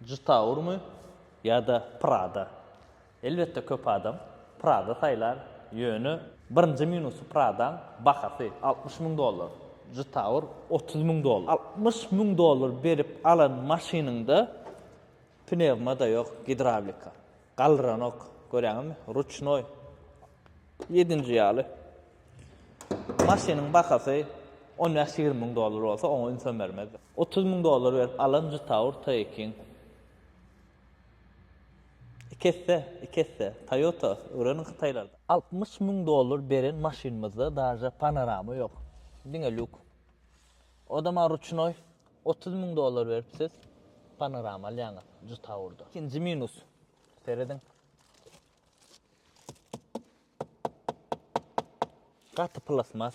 Juda urmy ýa-da Prada? Elbetde köp adam Prada saýlar, ýöne birinji minusy Prada-ň bahasy altmyş müň dollar, juda ur otuz müň dollar. Altmyş müň dollar berip alan maşynyňda pnewma-da ýok, gidrawlika galdyranok, görýäňizmi, ruçnoý. Ýedinji ýaly maşynyň bahasy on bäş-ýigrimi müň dollar bolsa oňa ünsem bermezdi. Otuz müň dollar berip alan juta orta ekin. Iki esse, iki esse. Toyota, öwreniň hytaýlardan. Altmyş müň dollar beren maşynymyzda daže panorama ýok. Diňe lýuk. Oda maňa ruçnoý. Otuz müň dollar berip siz panorama alýaňyz juta urda. Ikinji minus. Serediň. Gaty plasmas.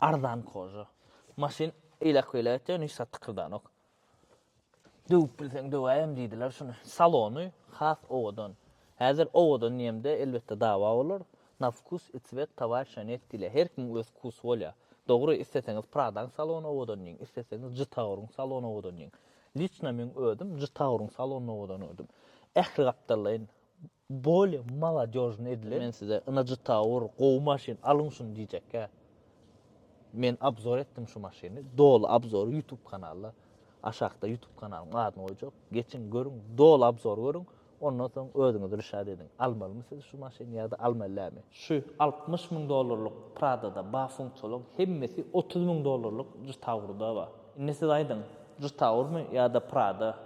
Arzan koža. Maşyn eýläk-beýläk etýär, hiç zat tykyrdanok. Döwüp bilseň döwäýem diýdiler şuny. Salony has owadan. Häzir owadan diýemde, elbetde dawa bolar. Na vkus i cwet towarişa net diýilýär. Her kimiň öz vkusy bolýar. Dogry, isleseňiz Pradaň salony owadan diýiň, isleseňiz Jitauryň salony owadan diýiň. Liçno meň özüm Jitauryň salonyny owadan gördüm. Ähli gapdallaýyn Bolly maladejny edilen. Men size ynajytawur gowy maşyn alyň şuny diýjekkä. Men abzor etdim şu maşyny. Doly abzory ýutub kanalda. Aşakda ýutub kanalyň adyny goýjak. Geçiň görüň doly abzory görüň. Ondan soň özüňiz rüşat ediň. Almalymy siz şu maşyny ýa-da almaly dälmi. Şu altmyş müň dollarlyk pradada bar funksiýalaryň hemmesi otuz müň dollarlyk jytawurda bar. Indi siz aýdyň jytawurmy ýa-da prada.